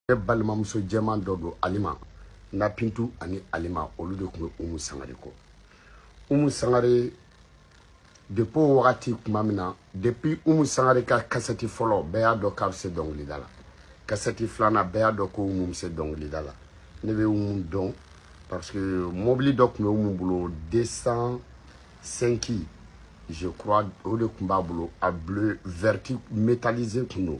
ne balimamuso jɛman dɔ don alima na bintu ani alima olu de tun bɛ umu sangare kɔ umu sangare depi o wagati tuma min na depi umu sangare ka kasɛti fɔlɔ bɛɛ y'a dɔn k'a bɛ se dɔnkilida la kasɛti filanan bɛɛ y'a dɔn ko umu bɛ se dɔnkilida la ne bɛ umu dɔn parce que mɔbili dɔ tun bɛ umu bolo 205 je crois o de tun b'a bolo a bleu vert métallisé tun don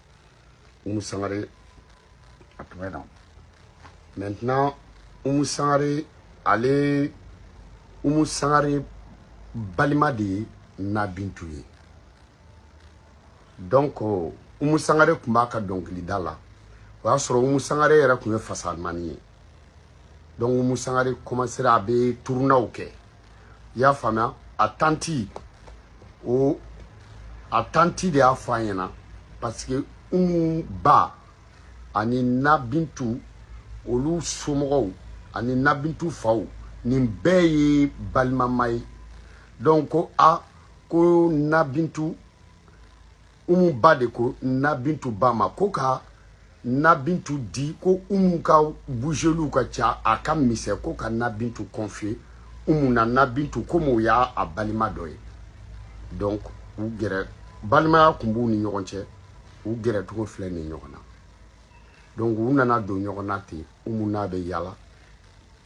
umu sangare a tun bɛ na maintenant umu sangare ale umu sangare balima de ye na bintu ye donc umu sangare tun b'a ka dɔnkilida la o y'a sɔrɔ umu sangare yɛrɛ tun ye fasalimani ye donc umu sangare commencera a bɛ turunaw kɛ i y'a faamuya a tanti o a tanti de y'a fɔ an ɲɛna parce que umu ba ani nabintu olu somɔgɔw ani nabintu faw nin bɛɛ ye balimama ye donc ko a ko nabintu umu ba de ko na bintu ba ma ko ka na bintu di ko umu ka bougeliw ka ca a ka misɛn ko ka na bintu confier umu na na bintu komi o y'a balima dɔ ye donc u gɛrɛ balimaya kun b'u ni ɲɔgɔn cɛ u gɛrɛ cogo filɛ nin ɲɔgɔn na donc u nana don ɲɔgɔn na ten umu n'a bɛ yala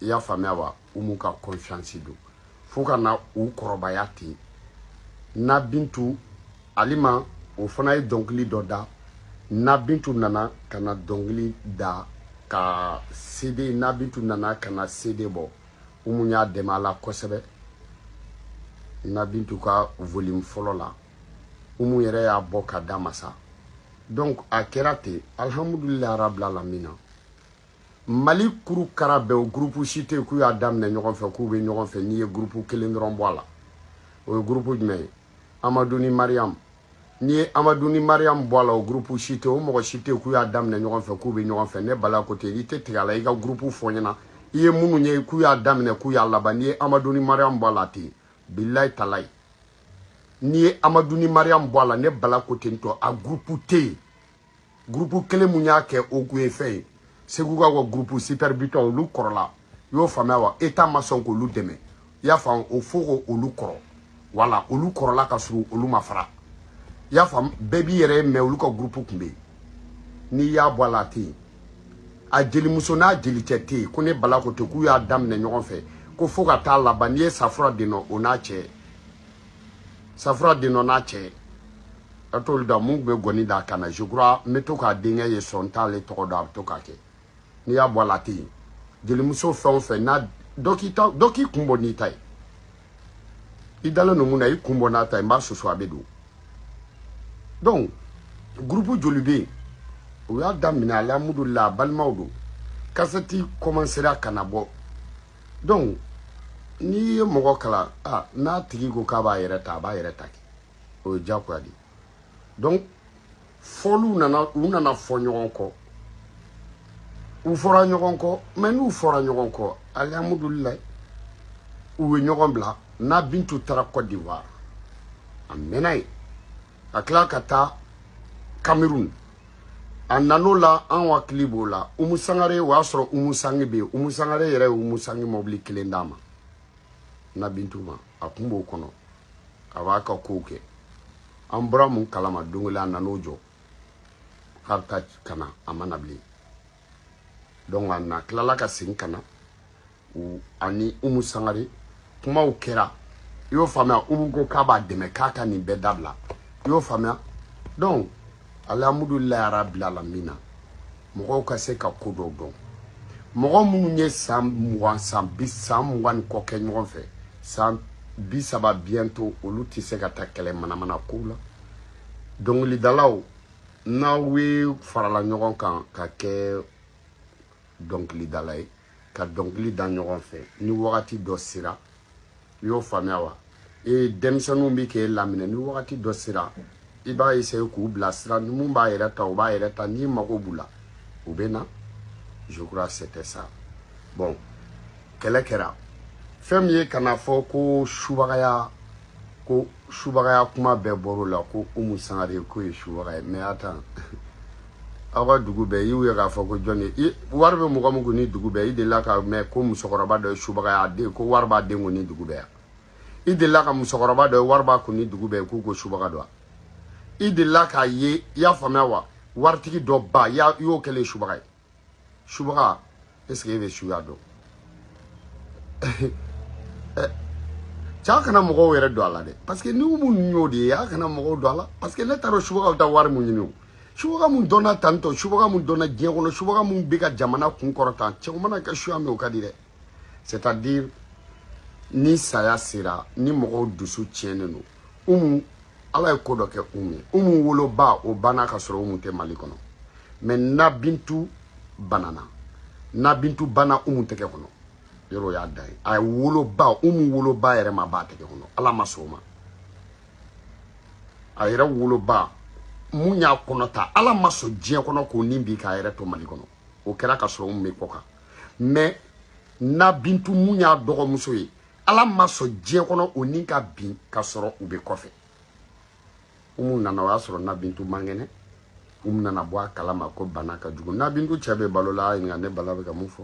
i y'a faamuya wa umu ka confiance don fo ka na u kɔrɔbaya ten na bintu alima o fana ye dɔnkili dɔ da na bintu nana ka na dɔnkili da ka sede na bintu nana ka na sede bɔ umu y'a dɛmɛ a la kosɛbɛ na bintu ka volume fɔlɔ la umu yɛrɛ y'a bɔ k'a d'a ma sa donc a kɛra ten alhamdulillah rabbil alamin mali kuru kara bɛɛ o gurupu si tɛ k'u y'a daminɛ ɲɔgɔn fɛ k'u bɛ ɲɔgɔn fɛ n'i ye gurupu kelen dɔrɔn bɔ a la o ye gurupu jumɛn ye amadu ni mariyamu n'i ye amadu ni mariyamu bɔ a la o gurupu si tɛ o mɔgɔ si tɛ k'u y'a daminɛ ɲɔgɔn fɛ k'u bɛ ɲɔgɔn fɛ ne bala ko ten i tɛ tigɛ a la i ka gurupu fɔ n ɲɛna i ye minnu ye k'u y'a daminɛ k'u y'a laban n'i ye amadu ni mariyamu bɔ a la ten bilayi talayi n'i ye amadu ni mariyamu bɔ a la ne bala ko ten tɔ a gurupu tɛ yen gurupu kelen min y'a kɛ o kun ye fɛn ye segukaw ka gurupu sipɛri bitɔn olu kɔrɔla i y'o faamuya wa eta ma sɔn k'olu dɛmɛ i y'a faamu o fɔ ko olu kɔrɔ wala olu kɔrɔla ka sɔrɔ olu ma fara i y'a faamu bɛɛ b'i yɛrɛ ye mɛ olu ka gurupu kun bɛ yen n'i y'a bɔ a la a tɛ yen a jelimuso n'a jelicɛ tɛ yen ko ne bala ko ten k'u y'a daminɛ ɲɔgɔn fɛ ko fo ka taa laban n'i ye safura denɔ o n'a cɛ safura den dɔ n'a cɛ a t'olu da min bɛ ngɔni d'a kan na je crois n bɛ to k'a denkɛ ye sɔn t'ale tɔgɔ dɔn a bɛ to k'a kɛ n'i y'a bɔ a la a tɛ yen jelimuso fɛn o fɛn n'a dɔ k'i ta dɔ k'i kun bɔ n'i ta ye i dalen don mun na i kun bɔ n'a ta ye n b'a susu a bɛ don donc groupe joli bɛ yen u y'a daminɛ alihamudulila a balimaw don kasɛti kɔmansera ka na bɔ donc n'i ye mɔgɔ kalan a n'a tigi ko k'a b'a yɛrɛ ta a b'a yɛrɛ ta kɛ o ye diyagoya de donc fɔliw nana u nana fɔ ɲɔgɔn kɔ u fɔra ɲɔgɔn kɔ mais n'u fɔra ɲɔgɔn kɔ alihamudulilayi u ye ɲɔgɔn bila na bintu taara kɔdiwari a mɛnna yen ka tila ka taa cameroun a nan'o la an hakili b'o la umu sangare o y'a sɔrɔ umu sangi bɛ yen umu sangare yɛrɛ ye umu sangi mɔbili kelen d'a ma na bintu ma a kun b'o kɔnɔ a b'a ka kow kɛ an bɔra min kalama don kelen a nan'o jɔ k'a bɛ taa ka na a ma na bilen donc a na tilala ka segin ka na u ani umu sangare kumaw kɛra i y'o faamuya umu ko k'a b'a dɛmɛ k'a ka nin bɛɛ dabila i y'o faamuya donc alihamudulilayi rabil alamina mɔgɔw ka se ka ko dɔw dɔn mɔgɔ minnu ye san mugan san bi san mugan ni kɔ kɛ ɲɔgɔn fɛ san bi saba bientôt olu tɛ se ka taa kɛlɛ manamana kow la dɔnkilidalaw n'aw ye farala ɲɔgɔn kan ka kɛ dɔnkilidala ye ka dɔnkili da ɲɔgɔn fɛ ni wagati dɔ sera i y'o faamuya wa ee denmisɛnninw bɛ k'e laminɛ ni wagati dɔ sera i b'a essaye k'u bilasira ni min b'a yɛrɛ ta o b'a yɛrɛ ta n'i mago b'u la u bɛ na je crois c'était ça bon kɛlɛ kɛra fɛn min ye ka n'a fɔ ko subagaya ko subagaya kuma bɛɛ bɔr'o la ko umu sangare k'o ye subaga ye mais attends aw ka dugu bɛɛ y'u ye k'a fɔ ko jɔn ye wari bɛ mɔgɔ min kun ni dugu bɛɛ i delila ka mɛn ko musokɔrɔba dɔ ye subaga y'a den ko wari b'a den kun ni dugu bɛɛ i delila ka musokɔrɔba dɔ ye wari b'a kun ni dugu bɛɛ k'u ko subaga don i delila k'a ye i y'a faamuya wa waritigi dɔ ba i y'o kɛlen subaga ye subaga est-ce que e bɛ suya dɔn a kana mɔgɔw yɛrɛ don a la dɛ parce que ni umu ninnu y'o de ye a kana mɔgɔw don a la parce que ne ta rɔ subaga bɛ taa wari mun ɲini o subaga min dɔnna tantɔ subaga min dɔnna diɲɛ kɔnɔ subaga min bɛ ka jamana kun kɔrɔta cɛ o mana kɛ suya min o ka di dɛ c'est à dire ni saya sera ni mɔgɔw dusu tiɲɛnen don umu ala ye ko dɔ kɛ umu ye umu woloba o banna ka sɔrɔ umu tɛ mali kɔnɔ mais na bintu banana na bintu banna umu tɛgɛ kɔnɔ yɔrɔ o y'a dan ye a ye woloba umu woloba yɛrɛ ma ban a tɛgɛ kɔnɔ ala ma sɔn o ma a yɛrɛ woloba mun y'a kɔnɔ ta ala ma sɔn diɲɛ kɔnɔ k'o ni bin k'a yɛrɛ to mali kɔnɔ o kɛra ka sɔrɔ umu bɛ kɔkan mais na bintu mun y'a dɔgɔmuso ye ala ma sɔn diɲɛ kɔnɔ o ni ka bin ka sɔrɔ u bɛ kɔfɛ umu nana o y'a sɔrɔ na bintu man kɛnɛ umu nana bɔ a kalama ko bana ka jugu na bintu cɛ bɛ balo la a ɲininka ne bala bɛ ka mun fɔ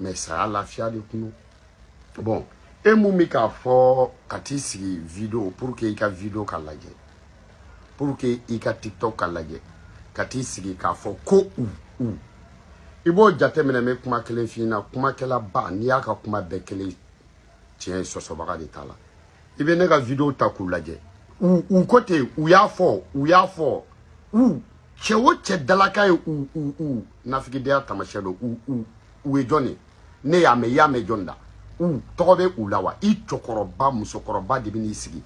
mais saya lafiya de kun bon e mun bɛ k'a fɔ ka t'i sigi video pour que i ka video ka lajɛ pour que i ka tiktok ka lajɛ ka t'i sigi k'a fɔ ko u u i b'o jateminɛ n bɛ kuma kelen f'i ɲɛna kumakɛlaba n'i y'a ka kuma bɛɛ kɛlen tiɲɛ ye sɔsɔbaga de t'a la i bɛ ne ka video ta k'u lajɛ u u ko ten u y'a fɔ u y'a fɔ u cɛ o cɛ dalakan ye u u u nafigidenya taamasiyɛn don u u u ye jɔn ye ne y'a mɛn i y'a mɛn jɔn da u tɔgɔ bɛ u la wa i cɛkɔrɔba musokɔrɔba de bɛ n'i sigi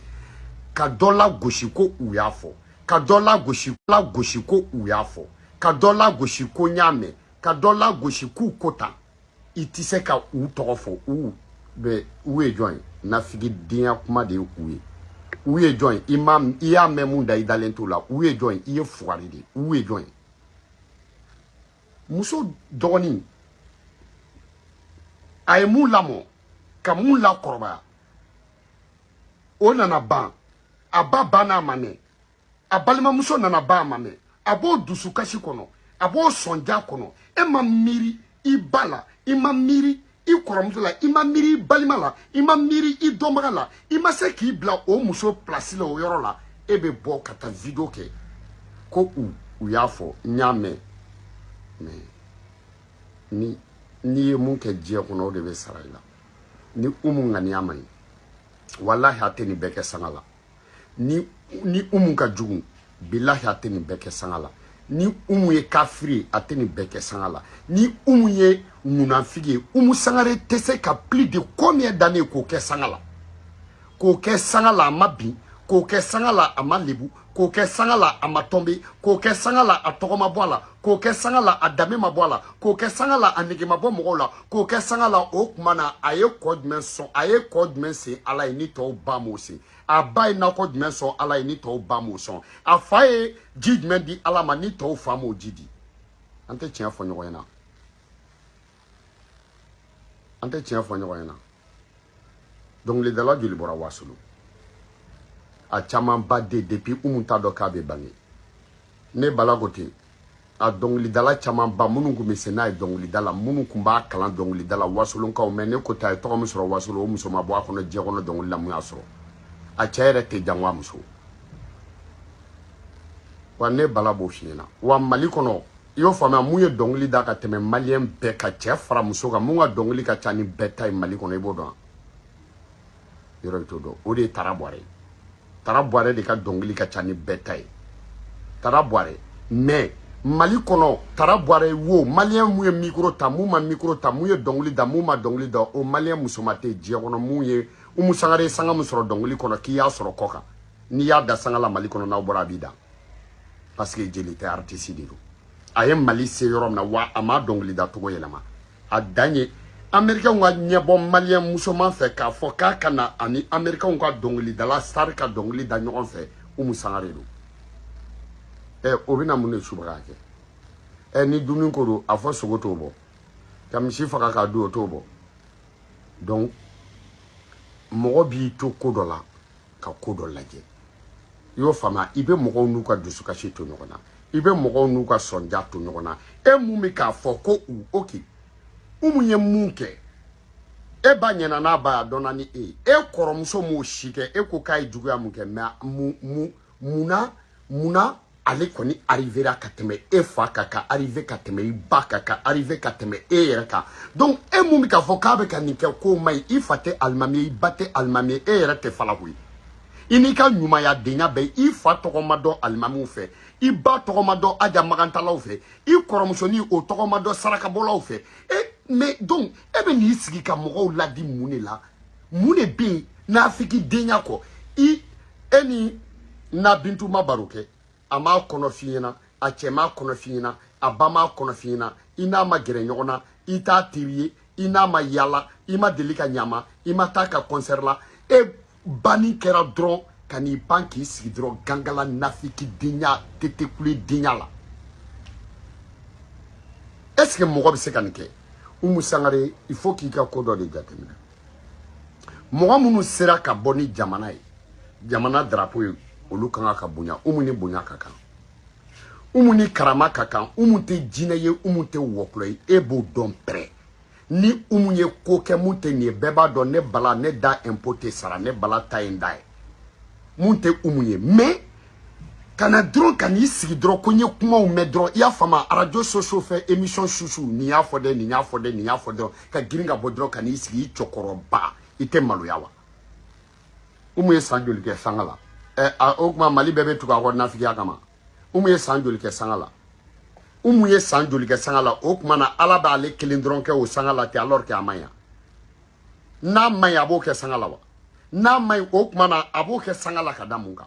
ka dɔ lagosi ko u y'a fɔ ka dɔ lagosi ko u y'a fɔ ka dɔ lagosi ko n y'a mɛn ka dɔ lagosi k'u ko tan i tɛ se ka u tɔgɔ fɔ u bɛ u ye jɔn ye nafigidenya kuma de ye u ye u ye jɔn ye i ma i y'a mɛn mun da i dalen t'o la u ye jɔn ye i ye fugari de ye u ye jɔn ye muso dɔgɔnin a ye mun lamɔ ka mun lakɔrɔbaya o nana ban a ba banna a ma mɛn a balimamuso nana ban a ma mɛn a b'o dusukasi kɔnɔ a b'o sɔnja kɔnɔ e ma miiri i ba la i ma miiri i kɔrɔmuso la i ma miiri i balima la i ma miiri i dɔnbaga la i ma se k'i bila o muso pilasi la o yɔrɔ la e bɛ bɔ ka taa video kɛ ko u u y'a fɔ n y'a mɛn mais n'i ye mun kɛ diɲɛ kɔnɔ o de bɛ sara i la ni umu ŋaniya man ɲi walahi a tɛ nin bɛɛ kɛ sanga la ni ni umu ka jugu bilahi a tɛ nin bɛɛ kɛ sanga la ni umu ye kafiri ye a tɛ nin bɛɛ kɛ sanga la ni umu ye munafigi ye umu sangare tɛ se ka plus de combien d'années k'o kɛ sanga la k'o kɛ sanga la a ma bin k'o kɛ sanga la a ma lebu k'o kɛ sanga la a ma tomber k'o kɛ sanga la a tɔgɔ ma bɔ a la k'o kɛ sanga la a danbe ma bɔ a la k'o kɛ sanga la a nege ma bɔ mɔgɔw la k'o kɛ sanga la o tuma na a ye kɔ jumɛn sɔn a ye kɔ jumɛn sen ala ye ni tɔw ba m'o sen a ba ye nakɔ jumɛn sɔn ala ye ni tɔw ba m'o sɔn a fa ye ji jumɛn di ala ma ni tɔw fa m'o ji di an tɛ tiɲɛ fɔ ɲɔgɔn ɲɛna an tɛ tiɲɛ fɔ ɲɔgɔn ɲɛna dɔnkilidala joli bɔra wasolo a camanba de depuis umu t'a dɔn k'a bɛ bange ne bala ko ten a dɔnkilidala camanba minnu tun bɛ se n'a ye dɔnkilida la minnu tun b'a kalan dɔnkilida la wasolonkaw mais ne ko ta ye tɔgɔ min sɔrɔ wasolo o muso ma bɔ a kɔnɔ diɲɛ kɔnɔ dɔnkili la mun y'a sɔrɔ a cɛ yɛrɛ tɛ jango a muso wa ne bala b'o f'i ɲɛna wa mali kɔnɔ i y'o faamuya mun ye dɔnkili da ka tɛmɛ maliyɛn bɛɛ ka cɛ fara muso kan mun ka dɔnkili ka ca ni bɛɛ ta ye mali kɔnɔ i b'o dɔn yɔrɔ bɛɛ t'o dɔn o de ye tara bɔrɛ ye tara bɔrɛ de ka dɔnkili ka ca ni bɛɛ ta ye tara bɔrɛ mais mali kɔnɔ tara bɔrɛ ye wo maliyɛn mun ye mikoro ta mun ma mikoro ta mun ye dɔnkili da mun ma dɔnkili da o maliyɛn musoman tɛ diɲɛ kɔnɔ mun ye umu sangare sanga min sɔrɔ dɔnkili kɔnɔ k'i y'a sɔrɔ kɔkan n'i y'a dan sanga la mali kɔnɔ n'aw bɔra a b'i dan parce que jeli tɛ aritisi de don a ye mali se yɔrɔ min na wa a ma dɔnkilida cogo yɛlɛma a dan ye amerikɛnw ka ɲɛbɔ maliyɛn musoman fɛ k'a fɔ k'a ka na ani amerikɛnw ka dɔnkilidala sari ka dɔnkili da ɲɔgɔn fɛ umu sangare don ɛ eh, o bɛna mun de subagaya kɛ ɛ eh, ni dumuni ko don a fɔ sogo t'o bɔ ka misi faga k'a dun o t'o bɔ donc mɔgɔ b'i to ko dɔ la ka ko dɔ lajɛ i y'o faamuya i bɛ mɔgɔw n'u ka dusukasi to ɲɔgɔn na i bɛ mɔgɔw n'u ka sɔnja to ɲɔgɔn na e mun bɛ k'a fɔ ko u oke umu ye mun kɛ e ba ɲɛna n'a ba y'a dɔnna ni e ye e kɔrɔmuso m'o si kɛ e ko k'a ye juguya mun kɛ mais mun mun munna munna ale kɔni arrivera ka tɛmɛ e fa kan ka arrive ka tɛmɛ i ba kan ka arrive ka tɛmɛ e yɛrɛ kan donc e mun bɛ k'a fɔ k'a bɛ ka nin kɛ k'o man ɲi i fa tɛ alimami ye i ba tɛ alimami ye e yɛrɛ tɛ falako ye i n'i ka ɲumayadenya bɛɛ i fa tɔgɔ ma dɔn alimamiw fɛ i ba tɔgɔ ma dɔn aja makantaalaw fɛ i kɔrɔmusonin o tɔgɔ ma dɔn sarakabɔlaw fɛ e mais donc e bɛ n'i sigi ka mɔgɔw ladi mun de la mun de bɛ yen nafiki denya kɔ i e ni nabintu ma baro kɛ a m'a kɔnɔ f'i ɲɛna a cɛ m'a kɔnɔ f'i ɲɛna a ba m'a kɔnɔ f'i ɲɛna i n'a ma gɛrɛ ɲɔgɔn na i t'a teri ye i n'a ma yala i ma deli ka ɲama i ma taa a ka kɔnsɛri la e banni kɛra dɔrɔn ka n'i ban k'i sigi dɔrɔn gangala nafiki denya tetekule denya la est ce que mɔgɔ bɛ se ka nin kɛ umu sangare il faut k'i ka ko dɔ de jateminɛ mɔgɔ minnu sera ka bɔ ni jamana ye jamana darapo ye olu ka kan ka bonya umu ni bonya ka kan umu ni karama ka kan umu tɛ jinɛ ye umu tɛ wɔkulɔ ye e b'o dɔn pɛrɛ ni umu ye ko kɛ mun tɛ nin ye bɛɛ b'a dɔn ne bala ne da impôt tɛ sara ne bala ta ye n da ye mun tɛ umu ye mais ka na dɔrɔn ka n'i sigi dɔrɔn ko n ye kumaw mɛn dɔrɔn i y'a faamu réseaux sociaux fɛ émission susu nin y'a fɔ dɛ nin y'a fɔ dɛ nin y'a fɔ dɔrɔn ka girin ka bɔ dɔrɔn ka n'i sigi i cɛkɔrɔba i tɛ maloya wa umu ye san joli kɛ sanga la ɛ a o tuma mali bɛɛ bɛ tugu a kɔ nafigiya kama umu ye san joli kɛ sanga la umu ye san joli kɛ sanga la o tuma na ala b'ale kelen dɔrɔn kɛ o sanga la tɛ alors que a man ɲi n'a man ɲi a b'o kɛ sanga la wa n'a man ɲi o tuma na a b'o kɛ sanga la ka da mun kan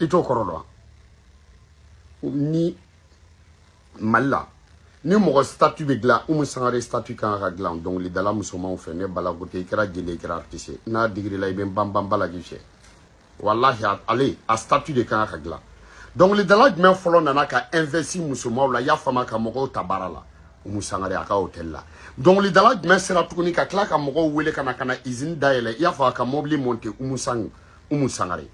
i t'o kɔrɔ dɔn ni mali la ni mɔgɔ statu bɛ dilan umu sangare statu ka kan ka dilan dɔnkilidala musomanw fɛ ne bala gote i kɛra jeli i kɛra artiste n'a digira i la i bɛ banban bala k'i fɛ walahi ale a statu de kan ka dilan dɔnkilidala jumɛn fɔlɔ nana ka investi musomanw la y'a faamu ka mɔgɔw ta baara la umu sangare a ka hôtel la dɔnkilidala jumɛn sera tuguni ka tila ka mɔgɔw wele ka na ka na izini dayɛlɛ i y'a faamu ka mɔbili monte umu sang umu sangare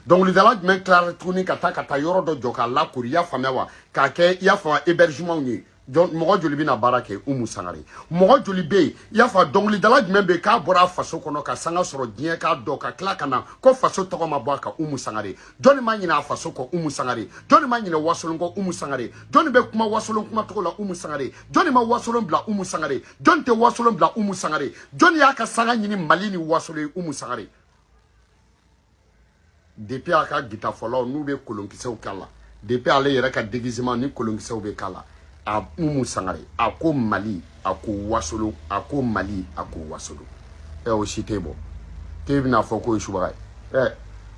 dɔnkilidala jumɛn tilara tuguni ka taa ka taa yɔrɔ dɔ jɔ k'a lakoori i y'a faamuya wa k'a kɛ i y'a faamuya hébergement ye mɔgɔ joli bɛna baara kɛ umu sangare mɔgɔ joli bɛ yen i y'a fɔ dɔnkilidala jumɛn bɛ yen k'a bɔra a faso kɔnɔ ka sanga sɔrɔ diɲɛ k'a dɔn ka tila ka na ko faso tɔgɔ ma bɔ a ka umu sangare jɔnni ma ɲinɛ a faso kɔ umu sangare jɔnni ma ɲinɛ wasolon kɔ umu sangare jɔnni bɛ kuma wasolon kuma tɔgɔ la umu sangare jɔnni ma wasolon bila umu sangare jɔnni tɛ wasolon bila umu sangare jɔnni y'a ka sanga ɲini mali ni wasolon ye umu sangare depuis a ka gitafɔla ninnu bɛ kolonkisɛw k'a la depuis ale yɛrɛ ka déguisement ni kolonkisɛw bɛ k'a la a umu sangare a ko mali a ko wasolon a ko mali a ko wasolon ɛ o si tɛ bɔ k'e bɛna fɔ k'o ye subaga ye ɛ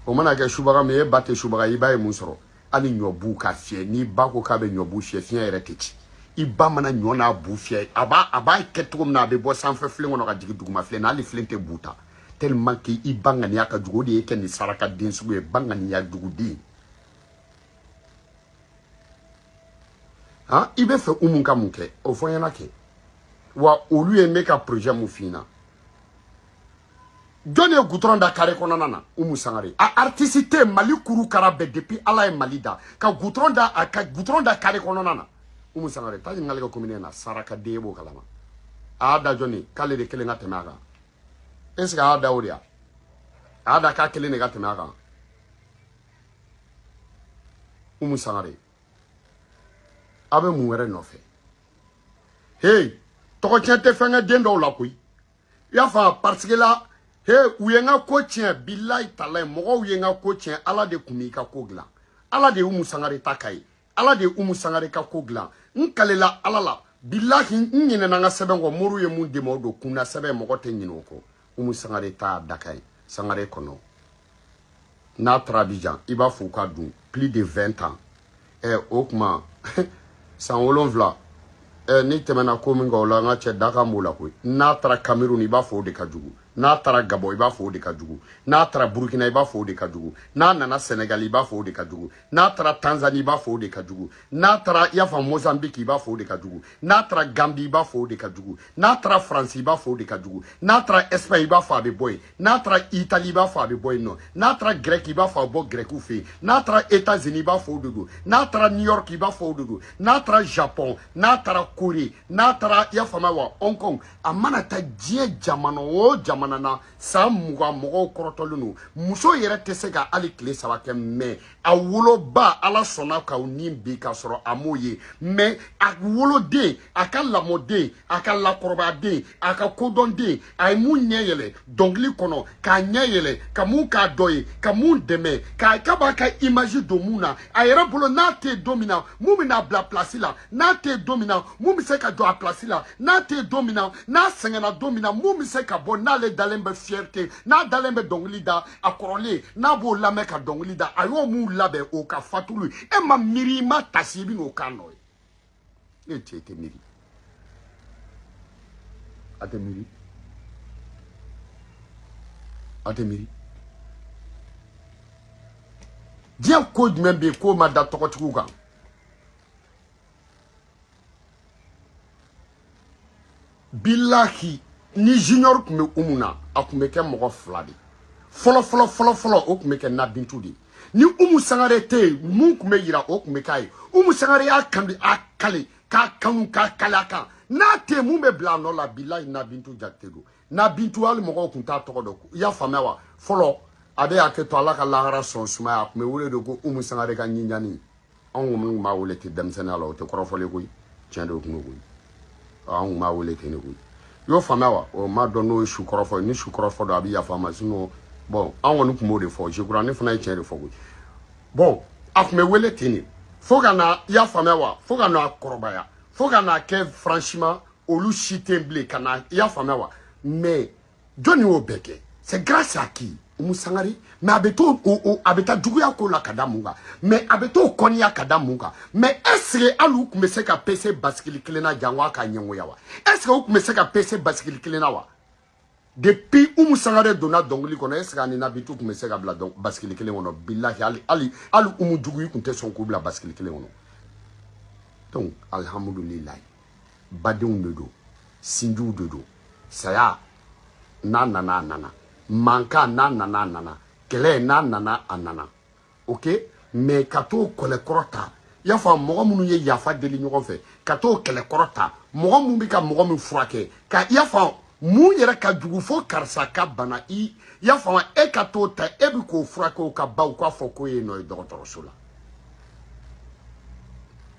o mana kɛ subaga min e ba tɛ subaga ye i ba ye mun sɔrɔ hali ɲɔ bu ka fiyɛ n'i ba ko k'a bɛ ɲɔ bu fiyɛ fiɲɛ yɛrɛ tɛ ci i ba mana ɲɔ n'a bu fiyɛ a b'a a b'a kɛ cogo min na a bɛ bɔ sanfɛ filen kɔnɔ ka jigin duguma filen na hali filen tɛ bu ta tellement que i ba ŋaniya ka jugu o de y'i kɛ nin saraka den sugu ye ba ŋaniya juguden han i bɛ fɛ umu ka mun kɛ o fɔ n ɲɛna kɛ wa olu ye ne ka projet mun f'i ɲɛna jɔn ye gutɔrɔn da kare kɔnɔna na umu sangare a artiste tɛ mali kuru kara bɛɛ depuis ala ye mali da ka gutɔrɔn da a ka gutɔrɔn da kare kɔnɔna na umu sangare taa ɲininkali kɛ komini na saraka den e b'o kalama a y'a da jɔn ye k'ale de kelen ka tɛmɛ a kan est ce que a y'a da o de ya a y'a da k'a kelen de ka tɛmɛ a kan umu sangare a bɛ mun wɛrɛ nɔfɛ hey tɔgɔ tiɲɛ tɛ fɛn kɛ den dɔw la koyi i y'a faamu parce que la he u ye n ka ko tiɲɛ bilayi talayi mɔgɔw ye n ka ko tiɲɛ ala de tun b'i ka ko dilan ala de ye umu sangare ta k'a ye ala de ye umu sangare ka ko dilan n kalela ala la bilahi n ɲinɛna n ka sɛbɛn kɔ moriw ye mun di n ma o don kunnasɛbɛn mɔgɔ tɛ ɲinɛ o kɔ umu sangare ta dakan ye sangare kɔnɔ n'a taara abijan i b'a fɔ u ka dun plus de 20 ans ɛ eh, o tuma san wolonwula ɛ eh, ni tɛmɛna ko min kan o la n ka cɛ dakan b'o la koyi n'a taara kamerun i b'a fɔ o de ka jugu n'a taara gabɔ i b'a fɔ o de ka jugu n'a taara burukina i b'a fɔ o de ka jugu n'a nana sɛnɛgali i b'a fɔ o de ka jugu n'a taara tanzanie i b'a fɔ o de ka jugu n'a taara i y'a faamu mozambique i b'a fɔ o de ka jugu n'a taara gambi i b'a fɔ o de ka jugu n'a taara faransi i b'a fɔ o de ka jugu n'a taara espagne i b'a fɔ a bɛ bɔ yen n'a taara itali i b'a fɔ a bɛ bɔ yen nɔ n'a taara grɛki i b'a fɔ a bɛ bɔ grɛkiw fɛ yen n'a taara etats unis i b'a fɔ o de don n'a taara new york i b'a fɔ o de don n'a taara japon n'a taara kore n'a taara i y'a faamuya wa hong kong a mana taa diɲɛ jamana o jamana na san mugan mɔgɔw kɔrɔtɔlen don muso yɛrɛ tɛ se ka hali tile saba kɛ mais a woloba ala sɔnna k'aw ni bi k'a sɔrɔ a m'o ye mais a woloden a ka lamɔden a ka lakɔrɔbaden a ka kodɔnden a ye mun ɲɛ yɛlɛ dɔnkili kɔnɔ k'a ɲɛ yɛlɛ ka mun k'a dɔ ye ka mun dɛmɛ k'a ka b'a ka imazi don mun na a yɛrɛ bolo n'a tɛ yen don min na mun bɛna bila a pilasi la n'a tɛ yen don min na mun bɛ se ka jɔ a pilasi la n'a tɛ yen don min na n'a sɛgɛnna don min na mun bɛ se ka bɔ n'ale dalen bɛ fierté n'a dalen bɛ dɔnkili da a kɔrɔlen n'a b'o lamɛn ka dɔnkili da a y'o mun labɛn o ka fatuli e ma miiri i ma taasi i bɛ n'o kan nɔ ye e cɛ i tɛ miiri a tɛ miiri a tɛ miiri diɲɛ ko jumɛn bɛ yen k'o ma da tɔgɔtigiw kan bilahi ni junior tun bɛ umu na a tun bɛ kɛ mɔgɔ fila de fɔlɔ fɔlɔ fɔlɔ fɔlɔ o tun bɛ kɛ nabintu de ni umu sangare tɛ yen mun tun bɛ yira o tun bɛ k'a ye umu sangare y'a kandi a kale k'a kanu k'a kale a kan n'a tɛ yen mun bɛ bila a nɔ la bilahi nabintu jakite don nabintu hali mɔgɔw tun t'a tɔgɔ dɔn i y'a faamuya wa fɔlɔ a bɛ hakɛ to ala ka lahara so sumaya a tun bɛ wele de ko umu sangare ka ɲinjani anw kɔni tun b'a wele ten denmisɛnninya la o tɛ kɔrɔfɔli koyi tiɲɛ de don koyi anw kun b'a wele ten de koyi i y'o faamuya wa n m'a dɔn n'o ye su kɔrɔfɔ ye ni su kɔrɔfɔ don a bɛ yafa n ma sinon bon anw kɔni tun b'o de fɔ jekura ne fana ye tiɲɛ de fɔ koyi bon a tun bɛ wele ten de fo ka na i y'a faamuya wa fo ka na kɔrɔbaya fo ka na kɛ franchement olu si tɛ bilen ka na i y'a faamuya wa mais jɔni y'o bɛɛ kɛ c'est grâce à qui umu sangare mais a bɛ t'o o a bɛ taa juguya ko la ka da mun kan mais a bɛ t'o kɔniya ka da mun kan mais est ce que hali u tun bɛ se ka pese basikili kelen na jango a ka ɲɛngoya wa est ce que u tun bɛ se ka pese basikili kelen na wa depuis umu sangare donna dɔnkili kɔnɔ est ce que a ni nabintu tun bɛ se ka bila basikili kelen kɔnɔ bilahi hali hali hali umu jugu i tun tɛ sɔn k'u bila basikili kelen kɔnɔ donc alihamudulilayi badenw de don sinjiw de don saya n'a nana a nana mankan n'a nana a nana kɛlɛ n'a nana a nana ok mais ka t'o kɛlɛkɔrɔ ta i y'a faamu mɔgɔ minnu ye yafa deli ɲɔgɔn fɛ ka t'o kɛlɛkɔrɔ ta mɔgɔ minnu bɛ ka mɔgɔ min furakɛ ka i y'a faamu mun yɛrɛ ka jugu fo karisa ka bana i y'a faamu e ka t'o ta e bɛ k'o furakɛ o ka ban k'a fɔ k'o ye nɔ ye dɔgɔtɔrɔso la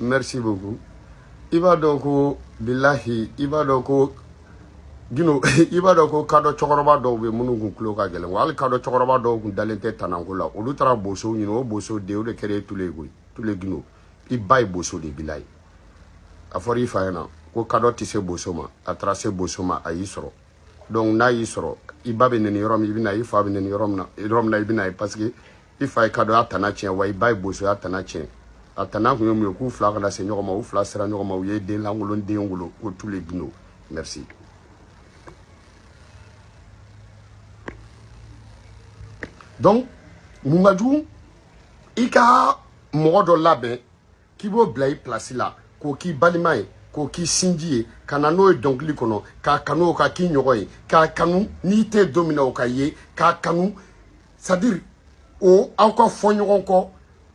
merci beaucoup i b'a dɔn ko bilahi i b'a dɔn ko gino i b'a dɔn ko kadɔ cɛkɔrɔba dɔw bɛ minnu kun tulo ka gɛlɛn wa hali kadɔ cɛkɔrɔba dɔw kun dalen tɛ tanako la olu taara bosow ɲini o boso de o de kɛra e tule ye koyi tule gino i ba ye boso de bilayi a fɔra i fa ɲɛ na ko kadɔ tɛ se boso ma a taara se boso ma a y'i sɔrɔ donc n'a y'i sɔrɔ i ba bɛ neni yɔrɔ min i bɛ na i fa bɛ neni yɔrɔ min na yɔrɔ min na i bɛ na ye parce que i fa ye kadɔ y'a tana tiɲɛ wa i ba ye boso y'a tana tiɲɛ a tana kun ye mun ye k'u fila kana se ɲɔgɔn ma u fila sera ɲɔgɔn ma u ye den lankolon den wolo ko tule gino merci donc mun ka jugu i ka mɔgɔ dɔ labɛn k'i b'o bila i pilasi la k'o k'i balima ye k'o k'i sinji ye ka na n'o ye dɔnkili kɔnɔ k'a kanu o ka k'i ɲɔgɔn ye k'a kanu n'i tɛ don min na o ka ye k'a kanu c'est à dire o aw ka fɔ ɲɔgɔn kɔ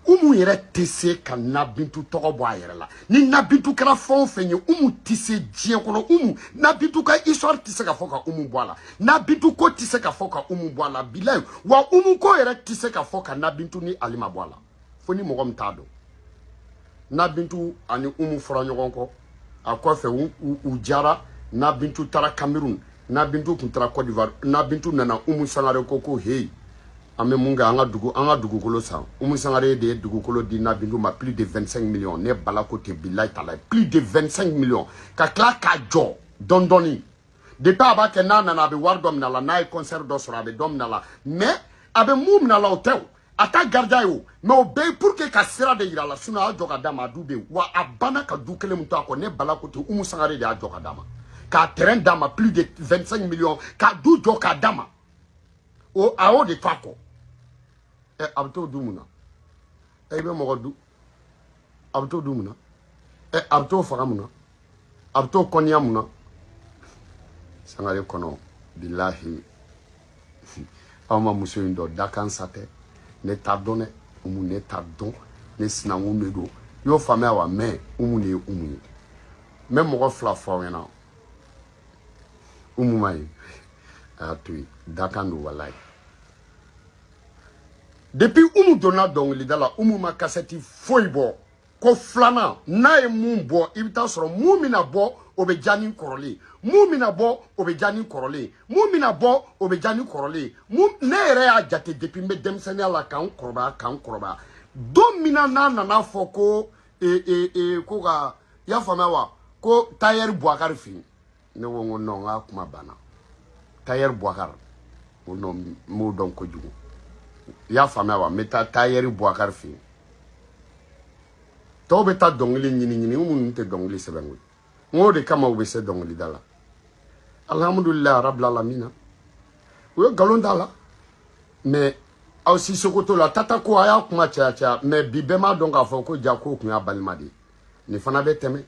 umu yɛrɛ tɛ se ka nabintu tɔgɔ bɔ a yɛrɛ la ni nabintu kɛra fɛn o fɛn ye umu tɛ se diɲɛ kɔnɔ umu nabintu ka histoire tɛ se ka fɔ ka umu bɔ a la nabintu ko tɛ se ka fɔ ka umu bɔ a la bilayi wa umu ko yɛrɛ tɛ se ka fɔ ka nabintu ni alima bɔ a la fo ni mɔgɔ min t'a dɔn nabintu ani umu fɔra ɲɔgɔn kɔ a kɔfɛ u diyara nabintu taara cameroun nabintu tun taara cote d'ivoire nabintu nana umu sangare ko ko heyi an bɛ mun kɛ an ka dugu an ka dugukolo san umu sangare de ye dugukolo di nabintu ma plus de 25 millions ne bala ko tɛ bilayi talayi plus de 25 millions ka tila k'a jɔ dɔɔni dɔɔni de a b'a kɛ n'a nana a bɛ wari dɔ min'a la n'a ye kɔnsɛri dɔ sɔrɔ a bɛ dɔ min'a la mais a bɛ mun min'a la o tɛ o a t'a garder a ye o mais o bɛɛ ye pour que ka sira de yir'a la sinon a y'a jɔ ka d'a ma a du bɛ yen wa a banna ka du kelen min to a kɔ ne bala ko tɛ umu sangare de y'a jɔ ka d'a ma k'a terrain d'a ma plus de 25 millions k'a du jɔ k'a d'a ma o a y'o de to a kɔ ɛ a bɛ t'o dun mun na ɛ i bɛ mɔgɔ du a bɛ t'o dun mun na ɛ a bɛ t'o faga mun na a bɛ t'o kɔniya mun na sangare kɔnɔ bilahi aw ma muso in dɔn dakan sa tɛ ne t'a dɔn dɛ umu ne t'a dɔn ne sinankun de don i y'o faamuya wa mɛ umu de ye umu ye n bɛ mɔgɔ fila fɔ aw ɲɛna umu ma ye a y'a to yen dakan don walayi depuis umu donna dɔnkilida la umu ma kasɛti foyi bɔ ko filanan n'a ye min bɔ i bɛ t'a sɔrɔ min bɛna bɔ o bɛ diya ni kɔrɔlen ye min bɛna bɔ o bɛ diya ni kɔrɔlen ye min bɛna bɔ o bɛ diya ni kɔrɔlen ye ne yɛrɛ y'a jate depuis n bɛ denmisɛnya la ka n kɔrɔbaya ka n kɔrɔbaya don min na n'a nana fɔ ko ee ee ee ko ka i y'a faamuya wa ko tailleur Bouakar fɛ yen ne ko n ko non n k'a kuma banna tayɛri buwakari o nɔ n b'o dɔn kojugu i y'a faamuya wa n bɛ taa tayɛri buwakari fɛ yen tɔw bɛ taa dɔnkili ɲini ɲini minnu tɛ dɔnkili sɛbɛn koyi n k'o de kama u bɛ se dɔnkilida la alihamudulilayi arabila lamina u ye nkalon d'a la mɛ aw si sokoto la tata ko a y'a kuma caya caya mɛ bi bɛɛ m'a dɔn k'a fɔ ko jaa k'o tun y'a balima de ye nin fana bɛ tɛmɛ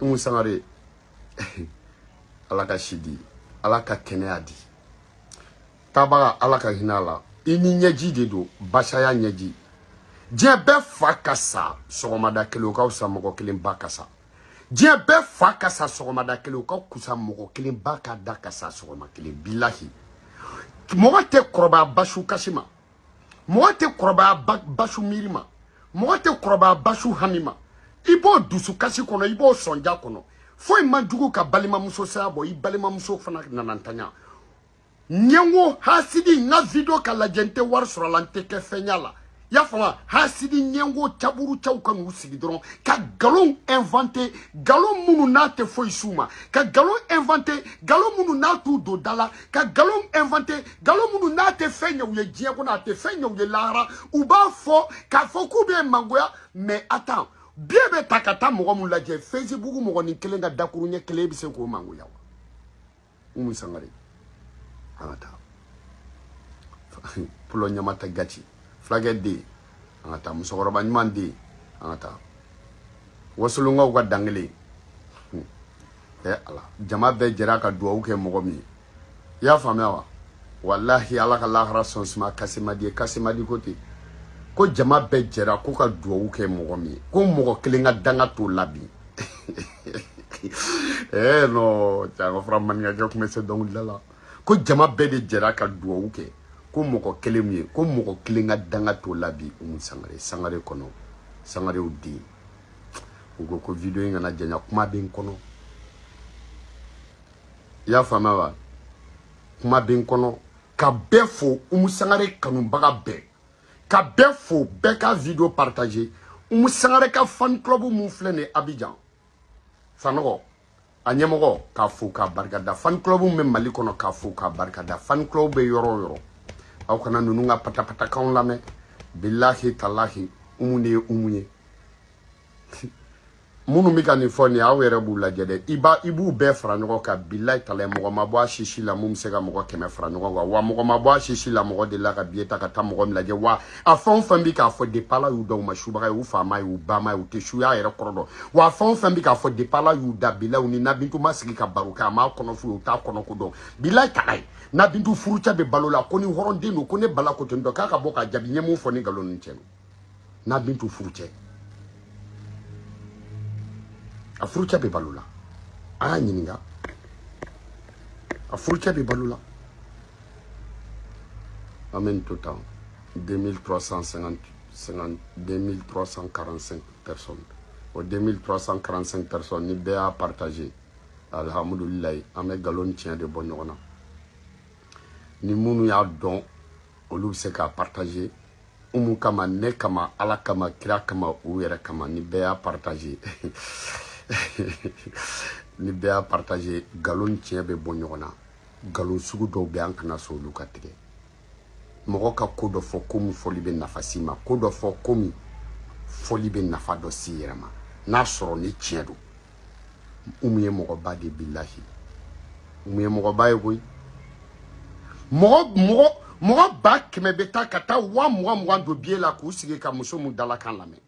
umu sangare ala ka si di ala ka kɛnɛya di taabaga ala ka hinɛ a la i ni ɲɛji de don ba saya ɲɛji diɲɛ bɛɛ fa ka sa sɔgɔmada kelen o ka kusa mɔgɔ kelen ba ka sa diɲɛ bɛɛ fa ka sa sɔgɔmada kelen o ka kusa mɔgɔ kelen ba ka da ka sa sɔgɔma kelen bilahi mɔgɔ tɛ kɔrɔbaya basu kasi ma mɔgɔ tɛ kɔrɔbaya basu miiri ma mɔgɔ tɛ kɔrɔbaya basu hami ma i b'o dusukasi kɔnɔ i b'o sɔnja kɔnɔ foyi man jugu ka balimamuso saya bɔ i balimamuso fana nana ntanya ɲɛngo hasidi n ka video ka lajɛ n tɛ wari sɔr'a la n tɛ kɛ fɛnya la i y'a faamu hasidi ɲɛngo caburucaw ka n'u sigi dɔrɔn ka nkalon inventer nkalon minnu n'a tɛ foyi s'u ma ka nkalon inventer nkalon minnu n'a t'u don da la ka nkalon inventer nkalon minnu n'a tɛ fɛn ɲɛ u ye diɲɛ kɔnɔ a tɛ fɛn ɲɛ u ye lahara u b'a fɔ k'a fɔ k'u bɛ mangoya mais attends billet bɛ ta ka taa mɔgɔ min lajɛ facebook mɔgɔnin kelen ka dakuruɲɛ kelen bɛ se k'o mangoya wa umu sangare an ka taa pulɔ ɲama ta gati fulakɛ den an ka taa musokɔrɔba ɲuman den an ka taa wasolonkaw ka dankelen hmm. ɛ ala jama bɛɛ jɛra ka duwawu kɛ mɔgɔ min ye i y'a faamuya wa walahi ala ka lahara sɔn suma kasemadi ye kasemadi ko ten ko jama bɛɛ jɛra ko ka duwawu kɛ mɔgɔ min ye ko mɔgɔ kelen ka danga t'o la bi ee eh, nɔ cɛ an ka fure maninkakɛ tun bɛ se dɔnkilida la ko jama bɛɛ de jɛra ka duwawu kɛ ko mɔgɔ kelen min ye ko mɔgɔ kelen ka danga t'o la bi umu sangare sangare kɔnɔ sangarew den u ko ko video in kana janya kuma bɛ n kɔnɔ i y'a faamuya wa kuma bɛ n kɔnɔ ka bɛɛ fo umu sangare kanubaga bɛɛ ka bɛɛ fo bɛɛ ka video partage umu sangare ka fan club min filɛ nin ye abijan sanɔgɔ a ɲɛmɔgɔ k'a fo k'a barikada fan club bɛ mali kɔnɔ k'a fo k'a barikada fan club bɛ yɔrɔ o yɔrɔ aw kana ninnu ka patapatakanw lamɛn bilahi talahi umu de ye umu ye minnu bɛ ka nin fɔ nin aw yɛrɛ b'u lajɛ dɛ i b'a i b'u bɛɛ fara ɲɔgɔn kan bilahi talahi mɔgɔ ma bɔ a si si la min bɛ se ka mɔgɔ kɛmɛ fara ɲɔgɔn kan wa mɔgɔ ma bɔ a si si la mɔgɔ delila ka biye ta ka taa mɔgɔ min lajɛ wa a fɛn o fɛn bɛ k'a fɔ depala y'u da u ma subaga ye u fa m'a ye u ba m'a ye u tɛ suya yɛrɛ kɔrɔ dɔn wa fɛn o fɛn bɛ k'a fɔ depala y'u da bilahi u ni nabintu ma sigi ka baro kɛ a m'a kɔnɔ f'u ye u t'a kɔnɔko dɔn bilahi talahi nabintu furucɛ bɛ balo la ko ni hɔrɔnden don ko ne bala ko ten dɔn k'a ka bɔ k'a jaabi n ye min fɔ ni nkalon ni tiɲɛ don nabintu furucɛ a furucɛ bɛ balo la a y'a ɲininka a furucɛ bɛ balo la An bɛ nin to tan 2350 50 2345 personnes o 2345 personnes ni bɛɛ y'a partager alihamudulilayi an bɛ nkalon ni tiɲɛ de bɔ ɲɔgɔn na ni minnu y'a dɔn olu bɛ se k'a partager umu kama ne kama ala kama kira kama u yɛrɛ kama ni bɛɛ y'a partager ni bɛɛ y'a partager nkalon ni tiɲɛ bɛ bɔ ɲɔgɔn na nkalon sugu dɔw bɛ an kana sɔn olu ka tigɛ mɔgɔ ka ko dɔ fɔ ko min fɔli bɛ nafa s'i ma ko dɔ fɔ ko min fɔli bɛ nafa dɔ s'i yɛrɛ ma n'a sɔrɔ ni tiɲɛ don umu ye mɔgɔba de bilahi umu ye mɔgɔba ye koyi mɔgɔ mɔgɔ mɔgɔ ba kɛmɛ bɛ taa ka taa waa mugan mugan don biye la k'u sigi ka muso min dalakan lamɛn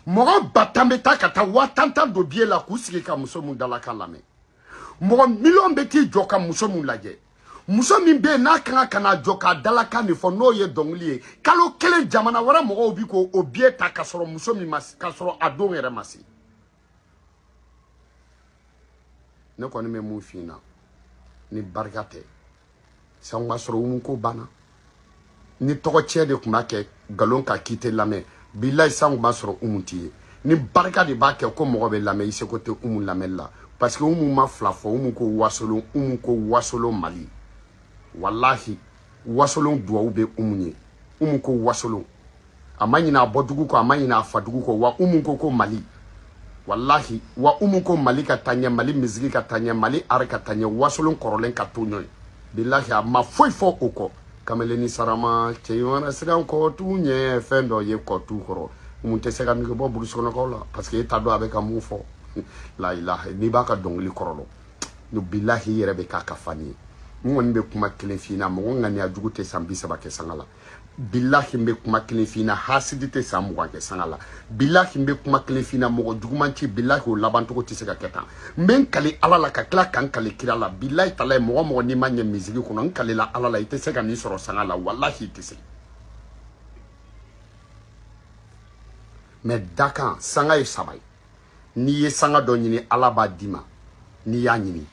mɔgɔ ba tan bɛ taa ka taa waa tan tan don biye la k'u sigi ka muso min dalakan lamɛn mɔgɔ miliyɔn bɛ t'i jɔ ka muso min lajɛ muso min bɛ yen n'a ka kan ka na a jɔ k'a dalakan de fɔ n'o ye dɔnkili ye kalo kelen jamana wɛrɛ mɔgɔw bi k'o o biye ta ka sɔrɔ muso min ma k'a sɔrɔ a don yɛrɛ ma se ne kɔni bɛ min f'i na ni barika tɛ sisan tun b'a sɔrɔ umu ko banna ni tɔgɔtiɲɛ de tun b'a kɛ nkalon ka k'i tɛ lamɛn bilayi sisan tun b'a sɔrɔ umu tɛ yen ni barika de b'a kɛ ko mɔgɔ bɛ lamɛn i seko tɛ umu lamɛnni la parce que umu ma fila fɔ umu ko wasolon umu ko wasolon mali walahi wasolon duwawu bɛ umu ye umu ko wasolon a ma ɲin'a bɔdugu kɔ a ma ɲin'a fadugu kɔ wa umu ko ko mali walahi wa umu ko mali ka taɲɛ mali miziki ka taɲɛ mali ari ka taɲɛ wasolon kɔrɔlen ka to ɲɔgɔn bilahi a ma foyi fɔ o kɔ kameleni sarama cɛɲɔgɔnna siran kɔtu ɲɛ fɛn dɔ ye kɔtu kɔrɔ min tɛ se ka nege bɔ burusukɔnɔkaw la parce que e t'a dɔn a bɛ ka mun fɔ la ilaha n'i b'a ka dɔnkili kɔrɔ dɔn bilahi i yɛrɛ bɛ k'a ka fani ye n kɔni bɛ kuma kelen f'i na mɔgɔ ŋaniya jugu tɛ san bi saba kɛ sanga la bilahi n bɛ kuma kelen f'i na hasidi tɛ san mugan kɛ sanga la bilahi n bɛ kuma kelen f'i na mɔgɔ juguman ci bilahi o labancogo tɛ se ka kɛ tan n bɛ n kali ala la ka tila ka n kali kira la bilahi talahi mɔgɔ mɔgɔ n'i ma ɲɛ miziki kɔnɔ n kalila ala la i tɛ se ka nin sɔrɔ sanga la walahi i tɛ se mais dakan sanga ye saba ye n'i ye sanga dɔ ɲini ala b'a d'i ma n'i y'a ɲini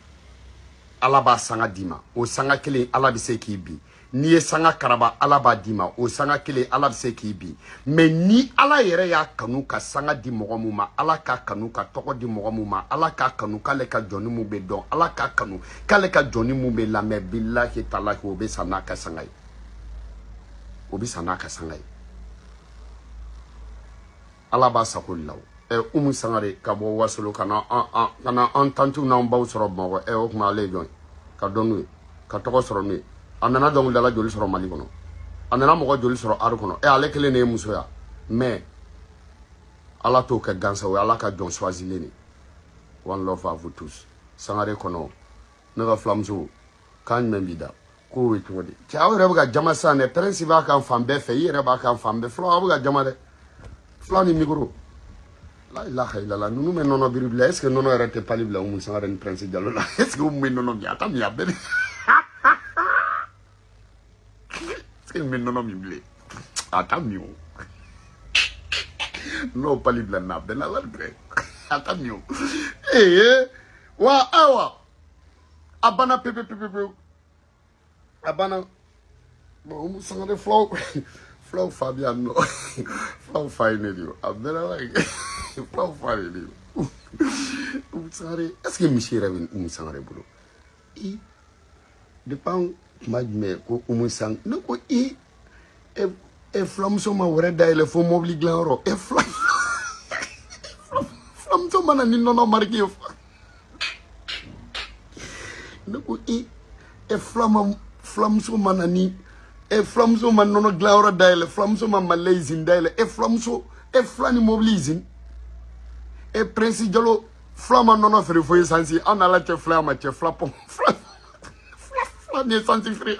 ala b'a sanga d'i ma o sanga kelen ala bɛ se k'i bin n'i ye sanga karaba ala b'a d'i ma o sanga kelen ala bɛ se k'i bin mais ni ala yɛrɛ y'a kanu ka sanga di mɔgɔ min ma ala k'a kanu ka tɔgɔ di mɔgɔ min ma ala k'a kanu k'ale ka jɔni min bɛ dɔn ala k'a kanu k'ale ka jɔni min bɛ lamɛn bilahi talahi o bɛ sa n'a ka sanga ye o bɛ sa n'a ka sanga ye ala b'a sago la ɛ umu sangare ka bɔ wasolon ka na ka na an tantiw n'an baw sɔrɔ bamakɔ ɛ o tuma ale ye jɔn ye ka dɔn n'u ye ka tɔgɔ sɔrɔ n'u ye a nana dɔnkilidala joli sɔrɔ mali kɔnɔ a nana mɔgɔ joli sɔrɔ ari kɔnɔ ɛ ale kelen de ye muso ye mais ala t'o kɛ gansa o ye ala ka jɔn choisilen de one love à vous tous sangare kɔnɔ ne ka filamuso kan jumɛn b'i da k'o bɛ cogo di cɛ aw yɛrɛ bɛ ka jama sisan dɛ pɛrɛnsi b'a kan fan bɛɛ fɛ i yɛrɛ b'a kan fan bɛɛ fula aw bɛ ka jama dɛ fula ni mikoro la ilaha ilala ninnu bɛ nɔnɔ biri bilen est ce que nɔnɔ yɛrɛ tɛ pali bila umu sangare ni pɛrɛnsi jalo la est ce que umu bɛ nɔnɔ min a t'a min a bɛɛ de est ce que umu bɛ nɔnɔ min bilen a t'a min o n'o pali bila na a bɛɛ na wari bɛɛ a t'a min o ee wa awa a banna pepe pepe pepe a banna umu sangare fulaw fulaw fa bi yan nɔ fulaw fa ye ne de ye a bɛɛ la la fulaw fa de ye sangare est ce que misi yɛrɛ bɛ umu sangare bolo i depuis an kuma jumɛn ko umu sang ne ko i e e fulamuso ma wɛrɛ dayɛlɛ fo mɔbili dilanyɔrɔ e fula fulamuso ma na ni nɔnɔ mariki ye fa ne ko i e fulama fulamuso ma na ni e fulamuso ma nɔnɔ dilanyɔrɔ dayɛlɛ fulamuso ma mali lait izini dayɛlɛ e fulamuso e fula ni mɔbili izini e prinsi jalo fula ma nɔnɔ feere fo esansi an n'ala cɛ fula ma cɛ fula pɔn fula fula fula ni esansi feere